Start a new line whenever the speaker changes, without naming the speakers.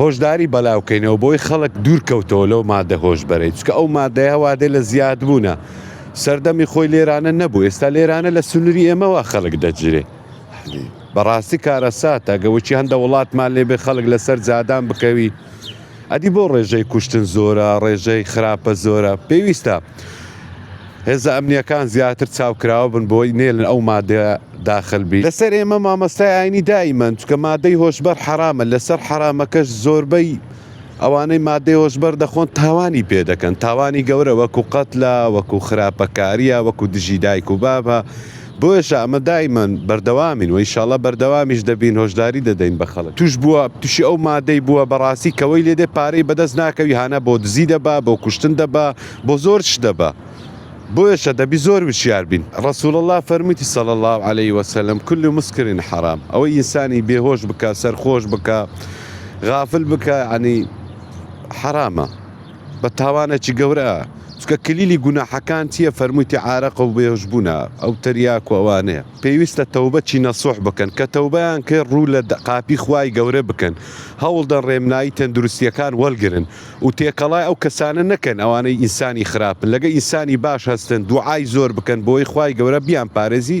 هۆشداری بەلاوکەینەوە بۆی خەڵک دوور کەوتەوە لەو مادە هۆشبەرەی چکە ئەو مادەیە وادەی لە زیاد بوونە سەردەمی خۆی لێرانە نەبوو ئێستا لێرانە لە سنوری ئێمەوە خەڵک دەگیرێ بەڕاستی کارەساتە گەوەکی هەندە وڵاتمان لێبێ خەڵک لەسەر جادان بکەوی ئەدی بۆ ڕێژەی کوشتن زۆرە ڕێژەی خراپە زۆرە پێویستە هێزە ئەمنیەکان زیاتر چاوکراوە بن بۆی نێلن ئەو مادەیە داخل بی لەسەر ئێمە مامۆستای ئاینی دائیمەن چونکە مادەی هۆشبەر حەرامە لەسەر حەرامەکەش زۆربەی ئەوانەی مادەی هۆشبەر دەخۆن تاوانی پێ دەکەن تاوانی گەورە وەکو قەتلە وەکو خراپەکاریە وەکو دژی دایک و بابە بۆیەشە ئەمە دائیمەن بەردەوامین وە ئیشاڵا بەردەوامیش دەبین هۆشداری دەدەین بە خەڵک توش بووە توشی ئەو مادەی بووە بەڕاستی کەوەی لێدێ پارەی بەدەست ناکەوی هانا بۆ دزی دەبا بۆ کوشتن دەبا بۆ زۆر شت دەبا. بۆیەشە دەبی زۆر وشیار بین رسول اللە فەرمویتی صلی اللە علیە وسلم کل مسکر حرام ئەوەی ئینسانی بێ هۆش بکا سەرخۆش بکا غافل بکا یەعنی حەرامە بە تاوانەکی گەورە چکە کلیلی گوناحەکان چیە فەرمویتی عارەق و بێهوش بوونە ئەو تریاک و ئەوانەیە پێویستە تەوبە چی نەسوح بکەن کە تەوبەیان کرد ڕوو لە قاپی خوای گەورە بکەن هەوڵدەن ڕێمنایی تەندروستیەکان وەلگرن و تێکەڵای ئەو کەسانە نەکەن ئەوانەی ئینسانی خراپن لەگە ئینسانی باش هەستن دوعای زۆر بکەن بۆی خوای گەورە بیان پارێزی